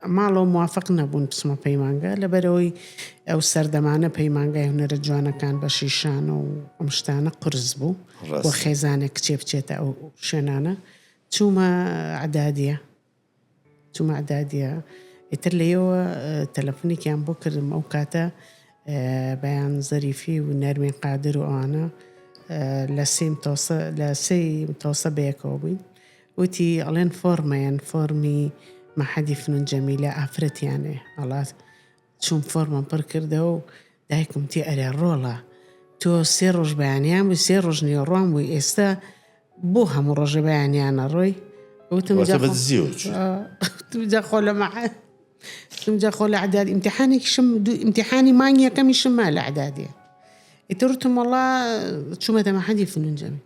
ماڵەوە موافق نەبوون بچمە پەیمانگا لەبەرئەوەی ئەو سەردەمانە پەیمانگای هونەرە جوانەکان بەشی شانۆ و ئەم شتانە قورس بوو ڕاست. بۆ خێزانێک کچێ بچێتە ئەو شوێنانە چوومە عدادیە چوومە عدادیە ئیتر لێەوە تەلەفۆنێکیان بۆ کردم ئەو کاتە اه، بەیان زەریفی و نەرمین قادر و ئەوانە اه، لە سێ متەوسە لە سێ متەوسە بەیەکەوە بووین وتی ئەڵێن فۆرمەیەن فۆرمی مەحەدی فنون جەمیلە ئافرەتیانێ ئەڵا چوم فۆرمم پڕ کردەوە و دایکم وتی ئەرێ ڕۆڵە تۆ سێ ڕۆژ بەیانیان بووی سێ ڕۆژ نێوەڕوان بووی ئێستا بۆ هەموو ڕۆژە بەیانیانە ڕۆی وتم واتە جا بە خۆ- دزی و چی؟ آه، وتم جا خۆ لە مەعاد وتم جا خۆ لە عداد ئیمتحانێکیشم دوو ئیمتحانی مانگ یەکەمیشم ما لە عدادێ ئیتر وتم وەڵا چوومەتە مەحەدی فنون جەمیل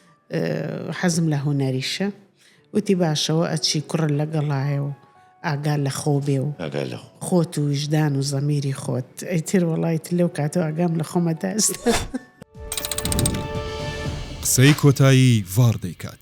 حەزم لە هونەریشە وتی باشەوە ئەچی کوڕە لە گەڵایە و ئاگا لە خۆ بێ و خۆت و وژدان و زەمیری خۆت ئەیتر وڵیت لەو کاتەوە ئەگام لە خۆمە داست. قسەی کۆتایی ڤاڕ دەیکات.